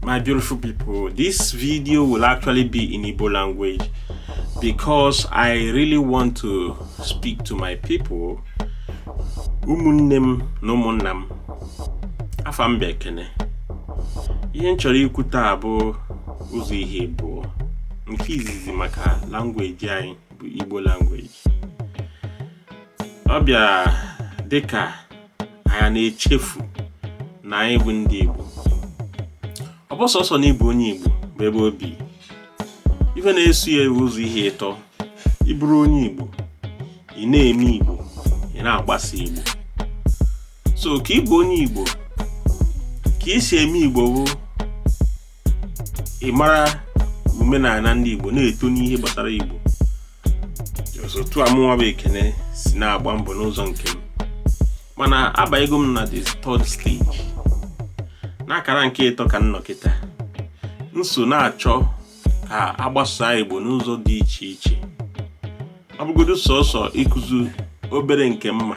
my beautiful people this video will actually be in Igbo language because I really want to speak to my people ụmụnne m na ụmụnna m afa m bụ Ekene ihe m chọrọ ikwu taa bụ ụzọ ihe abụọ nke izizi maka language anyị bụ Igbo language ọ bịa dịka anyị ana-echefu na anyị bụ ndị Igbo ọ bụ sọsọ na ịbụ onye Igbo bụ ebe o bi ife na-eso ya ụzọ ihe ịtọ ị bụrụ onye Igbo ị na-eme Igbo ị na-agbasa Igbo so ka ịbụ onye Igbo ka i si eme Igbo bụ ịmara omenala ndị Igbo na-eto n'ihe gbasara Igbo otu a mụnwa bụ ekene si na-agba mbọ n'ụzọ nke m mana abanyego m na the third stage n'akara nke ịtọ ka m nọ kịta m so na-achọ ka a gbasaa igbo n'ụzọ dị iche iche ọ bụgodu sọsọ ịkụzi obere nke m ma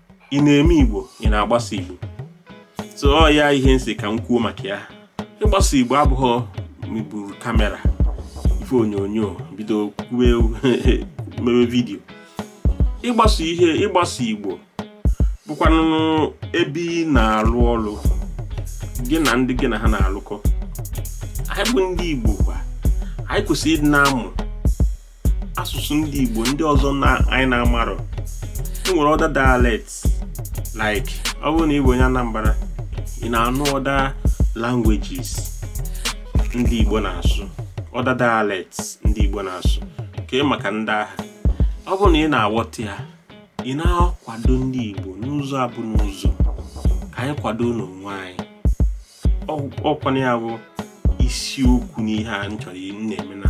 ị na-eme igbo ị na-agbasa igbo so ọ ya ihe m sị ka m kwuo maka ya ịgbasa igbo abụghị m iburu kamera bụ ife onyonyo bido mewe vidio ịgbasa ihe ịgbasa igbo bụkwanụ ebe ị na-alụ ọlụ gị na ndị gị na ha na-alụkọ anyị bụ ndị igbo kwa anyị kwesịrị ịdị na-amụ asụsụ ndị Igbo ndị ọzọ na anyị na-amarọ e nwere other dialect like ọ bụrụ na ị bụ onye Anambra ị na-anụ other languages ndị Igbo na-asụ other dialect ndị Igbo na-asụ kee maka ndị ahụ ọ bụrụ na ị na-aghọta ya ị na-akwado ndị Igbo n'ụzọ abụ n'ụzọ ka anyị kwadonụ onwe anyị ọkwana ya bụ isiokwu n'ihe a m chọrọ na-eme na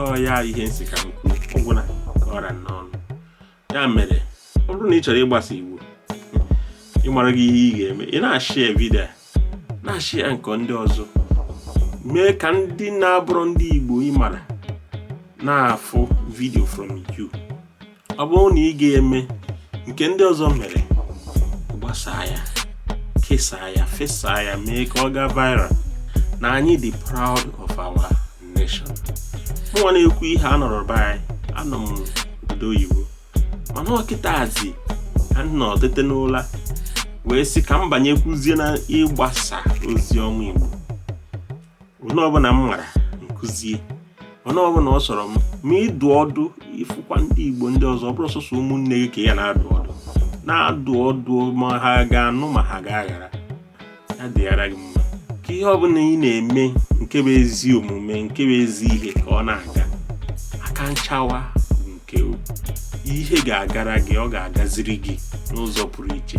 ọ ya ihe m sị ka m kwuo ọ gwụla ka ọ ra n'ọnụ ya mere ọ bụrụ na ị chọrọ ịgbasa Igbo ị maraghị ihe ị ga-eme ị na-share vidio na-share nke ndị ọzọ mee ka ndị na-abụrọ ndị Igbo ị mara na-afụ vidio from you ọ bụrụ na ị ga-eme nke ndị ọzọ mere gbasaa ya kesaa ya fesaa ya mee ka ọ gaa viral na anyị dị proud of our nation mụnwa na-ekwu ihe a anọrọ be anyị anọ m obodo oyibo mana ọ kịtazị ka m nọ tete n'ụla wee sị ka m banyekwuzie na ịgbasa ozi ọma igbo onye ọbụla m mara m kụzie onye ọbụla ọ sọrọ m ma ịdụ ọdụ ị fụkwa ndị igbo ndị ọzọ ọ bụrụ sọsọ ụmụnne gị ka ị ya na-adụ ọdụ na-adụ ọdụ ma ha ga-anụ ma ha ga-aghara ya dịghara gị mma ka ihe ọbụla ị na-eme nke bụ ezi omume nke bụ ezi ihe ka ọ na-aga aka nchawa nke ihe ga-agara gị ọ ga-agaziri gị n'ụzọ pụrụ iche